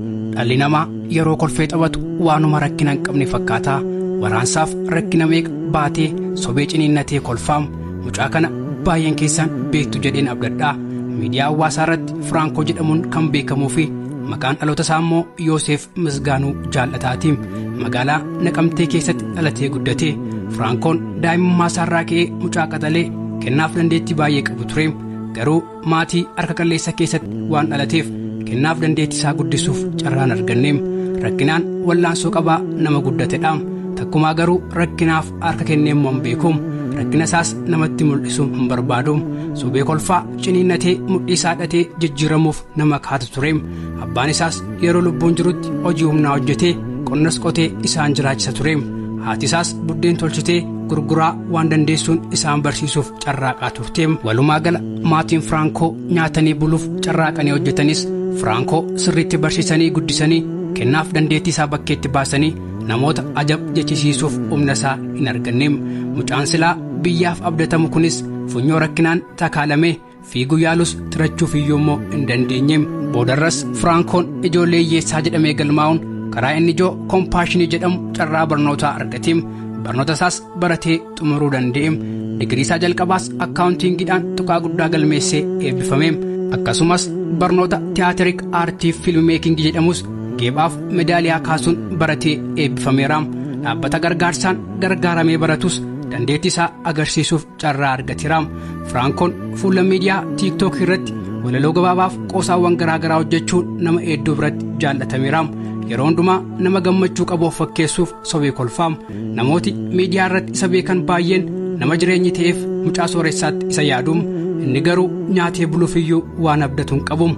Dhalli namaa yeroo kolfee taphatu waanuma rakkina hin qabne fakkaataa waraansaaf rakkina meeqa baatee sobee ciniinnatee kolfaam mucaa kana baay'een keessaan beektu jedheen abdadhaa miidiyaa hawaasaa irratti Firaankoo jedhamuun kan beekamuu fi maqaan dhaloota isaa immoo Yooseef Misgaanuu jaal'ataati magaalaa Naqamtee keessatti dhalatee guddate Firaankoon daa'imummaa isaarraa ka'ee mucaa qaxalee kennaaf dandeettii baay'ee qabu ture garuu maatii harka qalleessa keessatti waan dhalateef kennaaf dandeettii isaa guddisuuf carraan arganneem rakkinaan wallaansoo qabaa nama guddatedha takkumaa garuu rakkinaaf harka kenneemmoo hin beeku rakkina isaas namatti mul'isu hin barbaadu sobee kolfaa ciniinnatee mudhii isaa dhatee jijjiiramuuf nama kaatu tureem abbaan isaas yeroo lubbuun jirutti hojii humnaa hojjetee qonnas qotee isaan jiraachisa tureem haati isaas buddeen tolchitee gurguraa waan dandeessuun isaan barsiisuuf carraaqaa turteem walumaa gala maatiin firaankoo nyaatanii buluuf carraaqanii hojjetanis firaankoo sirriitti barsiisanii guddisanii kennaaf dandeettii isaa bakkeetti baasanii namoota ajab jechisiisuuf humna isaa hin arganneem mucaan silaa biyyaaf abdatamu kunis funyoo rakkinaan takaalamee fiiguu yaalus tirachuuf iyyuu immoo hin dandeenyeem boodarras firaankoon ijoollee hiyyeessaa jedhamee galmaa'uun karaa inni ijoo kompaashinii jedhamu carraa barnootaa argateem barnoota isaas baratee xumuruu danda'eem digirii isaa jalqabaas akkaawuntiingiidhaan tuqaa guddaa galmeessee eebbifameem akkasumas barnoota tiyaatirik aartiif fiilmi meekingi jedhamus geephaaf medaaliyaa kaasuun baratee eebbifameeraam dhaabbata gargaarsaan gargaaramee baratus dandeettii isaa agarsiisuuf carraa argateeraam firaankoon fuula miidiyaa tiiktook irratti walaloo gabaabaaf qoosaawwan garaagaraa hojjechuun nama hedduu biratti jaallatameeraam yeroo hundumaa nama gammachuu qabu of fakkeessuuf sobee kolfaa namooti miidiyaa irratti isa beekan baay'een nama jireenyi ta'eef mucaa sooressaatti isa yaadu inni garuu nyaatee buluufiyyuu waan abdatu hin qabu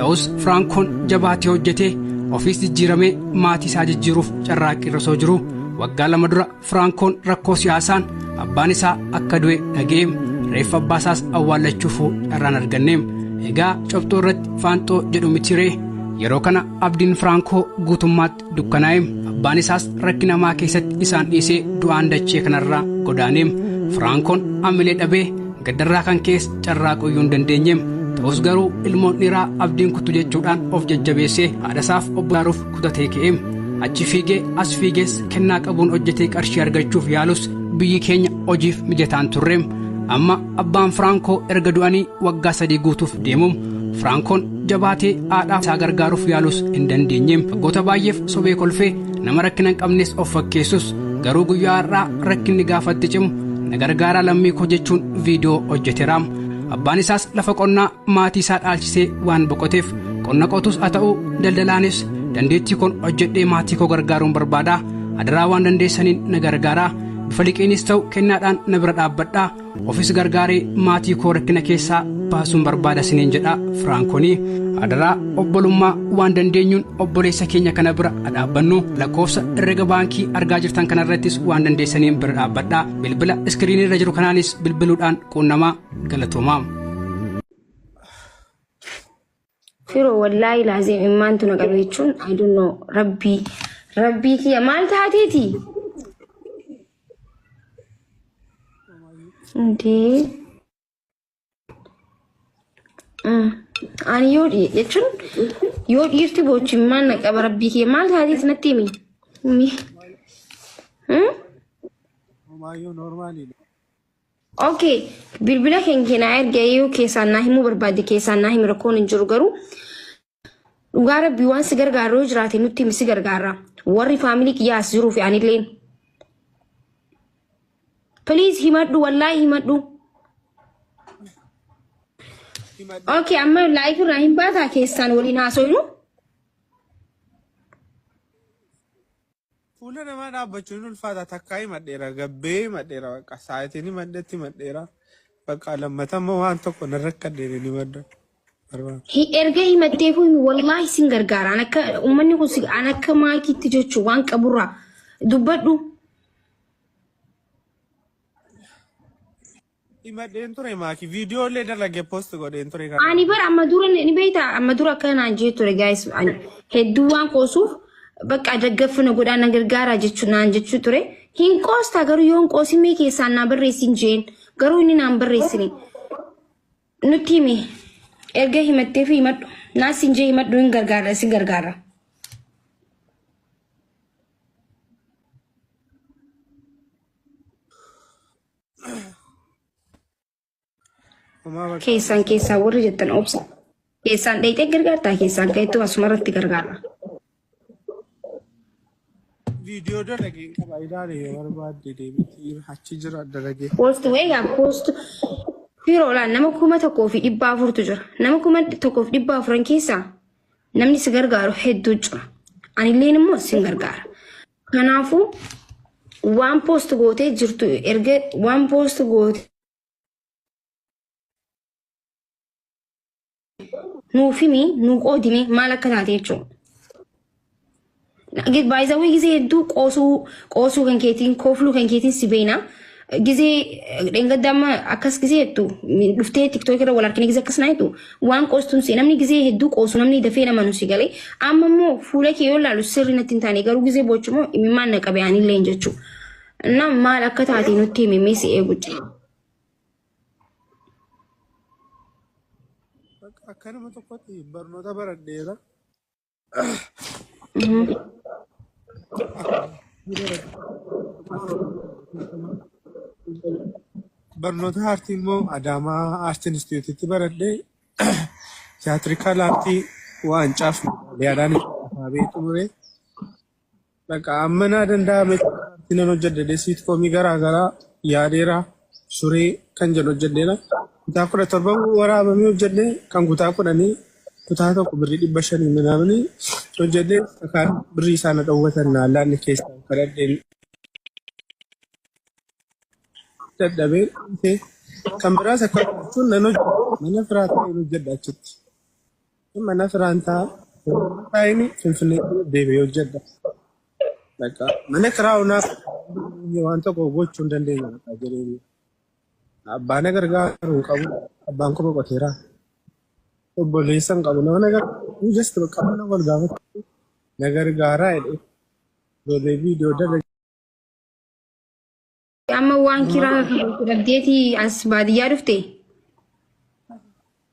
ta'us firaankoon jabaatee hojjetee ofiis jijjiiramee maatii isaa jijjiiruuf carraaqqii irra osoo jiru waggaa lama dura firaankoon rakkoo siyaasaan abbaan isaa akka du'e dhaga'e reeffa abbaa isaas awwaallachuufuu carraan arganne egaa cobxoo irratti faanxoo jedhu mitiiree yeroo kana abdiin firaankoo guutummaatti dukkanaa'eem abbaan isaas rakkina hamaa keessatti isaan dhiisee du'aan dachee kanarraa godaaneem firaankoon amilee dhabee gaddarraa kan keessa carraa qoyyuu hin dandeenyeem ta'us garuu ilmoon dhiiraa abdiin kuttu jechuudhaan of jajjabeessee haadhasaaf obbaaruuf kutatee ka'eem achi fiigee as fiigees kennaa qabuun hojjetee qarshii argachuuf yaalus biyyi keenya hojiif mijataan turreem amma abbaan firaankoo erga du'anii waggaa sadii guutuuf deemuum firaankoon jabaatee haadhaa isaa gargaaruuf yaalus hin dandeenye waggoota baay'eef sobee kolfee nama rakkina hin qabnes of fakkeessus garuu guyyaa har'aa rakkinni gaafatti cimu na gargaaraa lammii koo jechuun viidiyoo hojjeteera abbaan isaas lafa qonnaa maatii isaa dhaalchisee waan boqoteef qonna qotus haa ta'uu daldalaanis dandeettii koon hojjedhee maatii koo gargaaruun barbaada adaraa waan dandeessaniin na gargaaraa bifa liqiinis ta'u kennaadhaan na bira dhaabbadhaa ofis gargaaree maatii koo rakkina keessaa baasuun barbaada siniin jedha firaankoonii adaraa obbolummaa waan dandeenyuun obboleessa keenya kana bira dhaabbannu lakkoofsa herrega baankii argaa jirtan kanarrattis waan dandeessaniin bira dhaabbadhaa bilbila iskiriinii irra jiru kanaanis bilbiluudhaan quunnamaa galatoomaa. Firo wallaahi laaziim immaantu na qabe jechuun I don't know rabbii rabbii kiyya maal taateeti? Indee Mm. ani yoo dhiye jechuun yoo dhiirti boochi maal na qaba rabbii kiyya maal taateeti natti himi? Mi? Mm? Homaayyuu normaaliidha. Ok bilbila keen kee naa erga yoo keessaan naa himuu barbaadde keessaan naa himi rakkoon hin jiru garuu dhugaa rabbii waan si gargaaru yoo jiraate nutti himi si gargaarra warri faamilii kiyyaa as jiruu fi anilleen. Please himadhu wallaahi himadhu. Ok amma laayif irraa hin baataa keessaan waliin haasoynu. Fuula namaa dhaabbachuun hin ulfaata takkaa himadheera gabbee himadheera bakka saayitiin himadhetti himadheera bakka lammata immoo waan tokko nan rakkadheen hin himadha. Hi- erga himatteefuu himi wallaahi sin gargaara an akka uummanni kun si- an akka maakiitti jechuun waan qaburraa dubbadhu Himadheen ture maaki viidiyoo illee dalagee post godheen ture kana. Ani bara amma dura ni beekta amma dura akka naan jee ture guys ani hedduu waan qoosuuf bakka daggaffina godhaa na gargaaraa jechuu naan jechuu ture hin qoostaa garuu yoon qoosin mee keessaan naa barreessin jeen garuu inni naan barreessine nutti himi erga himattee fi himadhu naas hin jee himadhu hin gargaara isin gargaara. Homaa bakka Keessaan keessaa warri jettan obsa. Keessaan dheeyxee gargaartaa keessaan ka'eettu asuma irratti gargaara. viidiyoo dalagee hin qaba ilaale yoo barbaadde deebitii achi jira dalagee. Post wee yaa post firoo laan nama kuma tokkoo fi dhibba afurtu jira. Nama kuma tokkoo fi dhibba afuran keessaa namni si gargaaru hedduu jira. Anilleen immoo sin gargaara. Kanaafuu waan poost gootee jirtu erga waan poost goote nuuf himi nu qoodime maal akka taate jechuudha. Baay'isawwan gisee hedduu qoosuu qoosuu kan keetiin koofluu kan keetiin si beekna. Gizee dheengadda amma akkas gizee jettu dhuftee tiktook irra wal harkine gizee akkas naa jettu waan qoostuun si namni gizee hedduu qoosu namni dafee nama nu si galee amma immoo fuula kee yoo ilaalu sirri natti hin taane garuu gizee boochu immoo imimmaan na qabe anillee hin jechuu na maal akka taate nutti himi mee si eegu jira. Akka nama tokkotti barnoota baradheera. Barnoota aartii immoo Adaamaa Aart Inistiitiyuutitti baradhee tiyaatirikaal aartii waancaa fi medaaliyaadhaan beekamee xumure. Bakka amma naa danda'ame artii nan hojjedhe siitkoomii garaa garaa yaadeera suree kan jedhu hojjedheera. Kutaa kudha torba waraabamee hojjedhe kan kutaa kudhanii kutaa tokko birrii dhibba shanii minaamni hojjedhe kakaan birrii isaa na dhowwatan naa laanne keessaa kadhadheen dadhabee dhiise. kan biraas akka jechuun nan hojjedhe mana firaa ta'een hojjedhe achitti. Amma na firaan ta'a. Taa'ini finfinnee deebi'ee hojjedha. Bakka mana kiraa unaaf waan tokko gochuu hin dandeenye bakka jedhee abbaa na gargaaru hin qabu. Abbaan koo boqoteera. Obboleessa hin qabu. Nama na gargaaru just bakka mana wal gaafatu na gargaaraa jedhee ijoollee viidiyoo dalagaa. Amma waan kiraa dhabdeeti as baadiyyaa dhufte.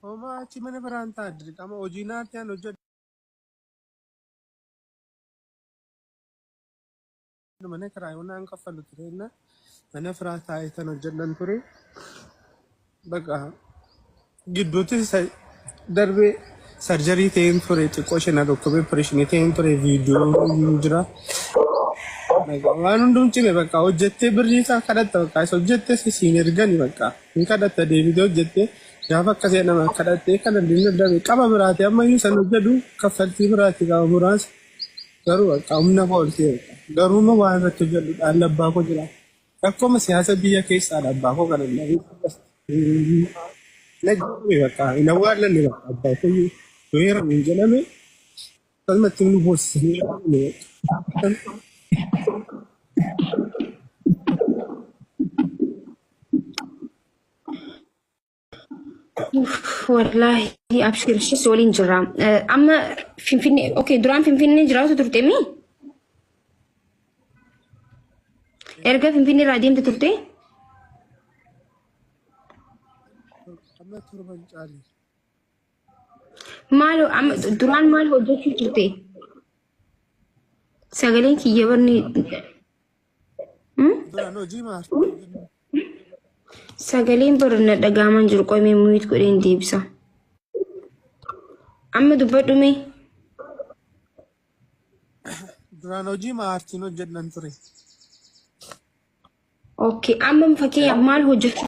Homaa achi mana biraan ta'a dirqama hojii naatti aan hojjedhu mana kiraa yoo naan kaffalu ture na mana firaa taa'ee tan hojjedhan ture baqa gidduutti isa darbee sarjarii ta'een ture xiqqoo ishee na dhukkubee opereeshinii ta'een ture viidiyoo hin jira. Waan hundum cime bakka hojjettee birrii isaa kadhatta bakka isa hojjettee si siin ergani bakka hin kadhatta deebitee hojjettee gaafa akka seena nama kadhattee kana dinna dabe qaba biraati amma iyyuu san hojjedhu kaffaltii biraati qaba muraasa garuu bakka humna kooltee garuu immoo waan irratti hojjedhu dhaalla abbaa koo jira. Rakkoma siyaasa biyya keessaadha abbaa koo kana ilaalu. Na jedhame bakka hin awwaallanne bakka abbaa koo yoo heeramu hin jedhame akkasumatti nu boossisanii yaa'ame. Wallaahi abshiir ishis waliin jirra. Amma Finfinnee okay duraan Finfinnee jiraatu turte mi? Erga Finfinnee irraa deemte turte? Amma turban caali. Maal amma duraan maal hojjechuu turte? Sagaleen kiyya barni Duraan hojii maartii jennu. Sagaleen bara na dhagaaman jiru qoyme muyit godheen deebisa. Amma dubbadhu mee Duraan hojii maartiin hojjedhan ture. okay amma fakkeenyaaf maal hojjechuu